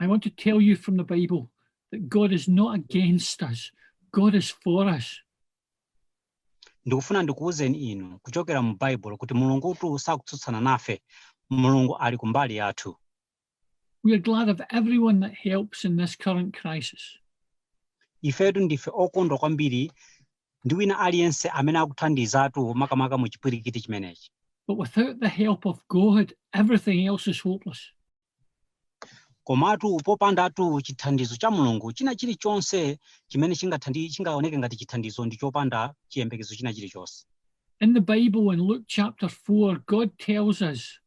I want to tell you from the Bible that God is not against us, God is for us. ndikufuna ndikuwuzeni inu kuchokera mu baibulo kuti mulungutu sakutsutsana nafe mulungu ali kumbali yathu We are glad of everyone that helps in this current crisis. ifetu ndife okondwa kwambiri ndi wina aliyense amene akuthandizatu makamaka mu chipwirikiti chimenechi But without the help of God, everything else is hopeless. Komatu popandatu chithandizo cha Mulungu, china chilichonse chimene chingathandi- chingaoneke ngati chithandizo ndi chopanda chiyembekezo china chilichonse. In the Bible, in Luke chapter 4, God tells us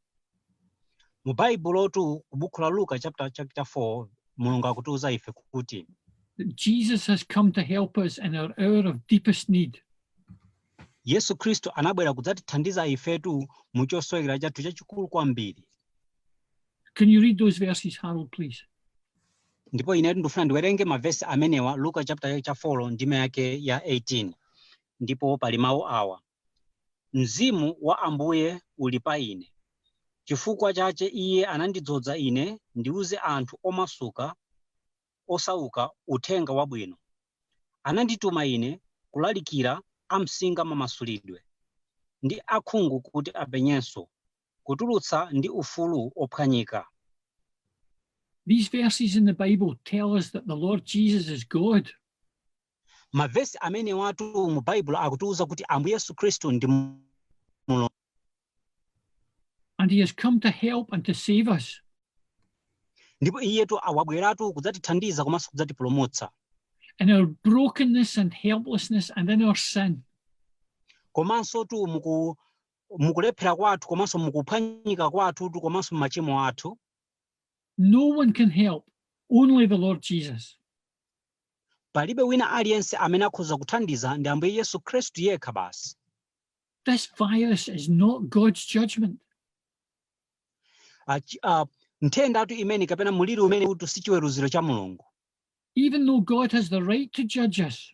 Mu Baibulotu, ku buku la Luka chapter chapter 4, Mulungu akutiuza ife kuti that Jesus has come to help us in our hour of deepest need. Yesu Khristu anabwera kudzatithandiza ifetu mu chosowekera chathu chachikulu kwambiri. Can you read those verses, Harold, please? ndipo inetu ndifuna ndiwerenge mavesi amenewa luka chapter cha 4 ndime yake ya 18 ndipo pali mawu awa mzimu wa ambuye uli pa ine chifukwa chache iye anandidzodza ine ndiuze anthu omasuka osauka uthenga wabwino anandituma ine kulalikira amsinga mamasulidwe ndi akhungu kuti apenyenso kutulutsa ndi ufulu ophwanyika. These verses in the Bible tell us that the Lord Jesus is God. Mavesi amenewatu mu Baibulo akutiuza kuti Ambuye Yesu Khristu ndi Mulungu. And he has come to help and to save us. Ndipo iyetu wabweratu kudzatithandiza komanso kudzatipulumutsa. In our brokenness and helplessness and in our sin. Komansotu muku mukulephera kwathu komanso mukuphwanyika kwathutu komanso m'machimo athu No one can help, only the Lord Jesus. palibe wina aliyense amene akhoza kuthandiza ndi ambuye yesu khristu yekha basi This virus is not God's judgment. Achi- ah, nthendatu imene kapena muliri umenewutu si chiweruziro cha mulungu Even though God has the right to judge us,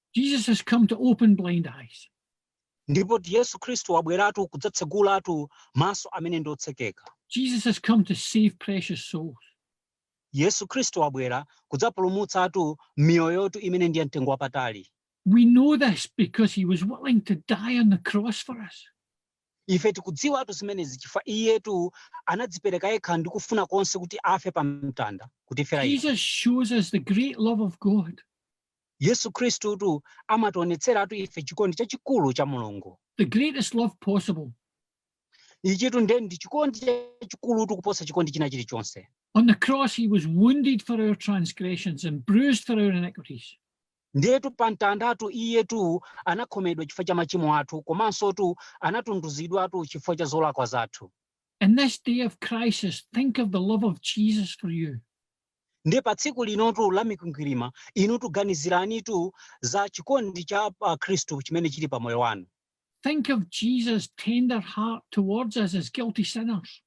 Jesus has come to open blind eyes. ndipotu yesu khristu wabweratu kudzatsegulatu maso amene ndi otsekeka Jesus has come to save precious souls. yesu khristu wabwera kudzapulumutsatu miyoyotu imene ndi ya mtengo wapatali We know this because he was willing to die on the cross for us. ife tikudziwatu zimenezi chifukwa iyetu anadzipereka yekha ndi kufuna konse kuti afe pa mtanda kutifera ife Jesus shows us the great love of God. Yesu Khristutu amationetseratu ife chikondi chachikulu cha Mulungu. The greatest love possible. Ichitu nde ndi chikondi chachikulutu kuposa chikondi china chilichonse. On the cross he was wounded for our transgressions and bruised for our iniquities. Ndiyetu pa mtandatu iyetu anakhomedwa chifukwa cha machimo athu komanso tu anatunduzidwatu chifukwa cha zolakwa zathu. In this day of crisis, think of the love of Jesus for you. Ndiye pa tsiku linotu la mikwingwirima, inutu ganiziranitu za chikondi cha pa Khristu chimene chili pa moyo wanu. Think of Jesus' tender heart towards us as guilty sinners.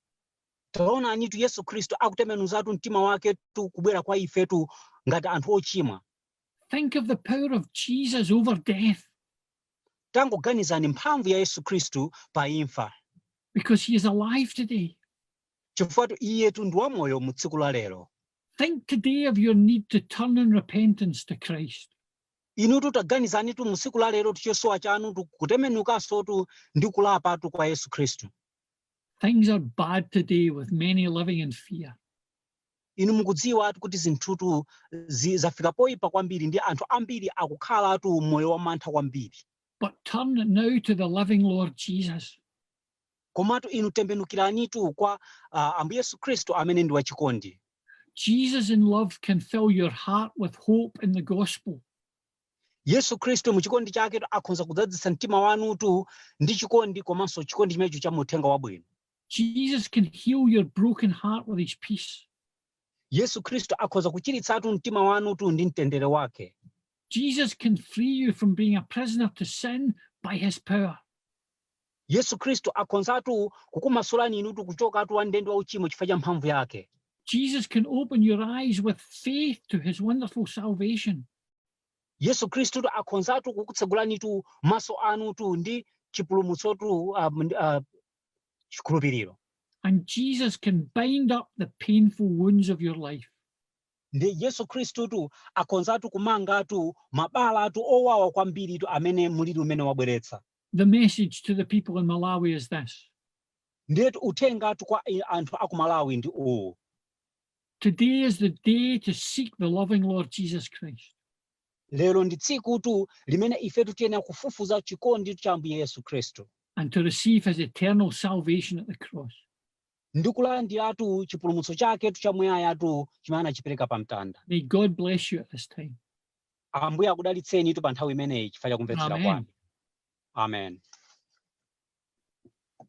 Taonanitu Yesu Khristu akutembenuzatu mtima waketu kubwera kwa ifetu ngati anthu ochimwa. Think of the power of Jesus over death. Tangoganizani mphamvu ya Yesu Khristu pa imfa. Because he is alive today. Chifukwa-tu Iyetu ndi wamoyo mu tsiku la lero. Think today of your need to turn in repentance to Christ. Inutu taganizanitu mu tsiku la lerotu chosowa chanutu kutembenukansotu ndi kulapatu kwa Yesu Khristu. Things are bad today with many living in fear. Inu mukudziwatu kuti zinthutu zi- zafika poyipa kwambiri ndi anthu ambiri akukhalatu moyo wamantha kwambiri. But turn now to the living Lord Jesus. Komatu inu tembenukiranitu kwa, a, Ambuye Yesu Khristu Amene ndi wachikondi. Jesus in love can fill your heart with hope in the Gospel. Yesu Khristu mu chikondi chaketu akhonza kudzadzitsa mtima wanutu ndi chikondi komanso chikondi chimenecho cha mu uthenga wabwino. Jesus can heal your broken heart with his peace. Yesu Khristu akhonza kuchiritsatu mtima wanutu ndi mtendere wake. Jesus can free you from being a prisoner to sin by his power. Yesu Khristu akhonzatu kukumasulani inutu kuchokatu wa m'ndende wa uchimo chifukwa cha mphamvu yake. Jesus can open your eyes with faith to his wonderful salvation. Yesu Khristutu akhonzatu kukutsegulanitu maso anutu ndi chipulumutsotu ah, mnd- ah, chikhulupiriro. And Jesus can bind up the painful wounds of your life. Ndi Yesu Khristutu akhonzatu kumangatu mabalatu owawa kwambiritu amene muliri umene wabweretsa. The message to the people in Malawi is this. Ndiyetu uthengatu kwa eh, anthu aku Malawi ndi uwu. Today is the day to seek the loving Lord Jesus Christ. Lero ndi tsikutu limene ife tikuyenera kufufuza chikonditu cha Ambuye Yesu Khristu. And to receive his eternal salvation at the cross. Ndi kulandiratu chipulumutso chaketu chamuyayatu chimene anachipereka pa mtanda. May God bless you at this time. Ambuye akudalitseni tu pa nthawi imeneyi chifukwa cha kumvetsera kwanu. Amen.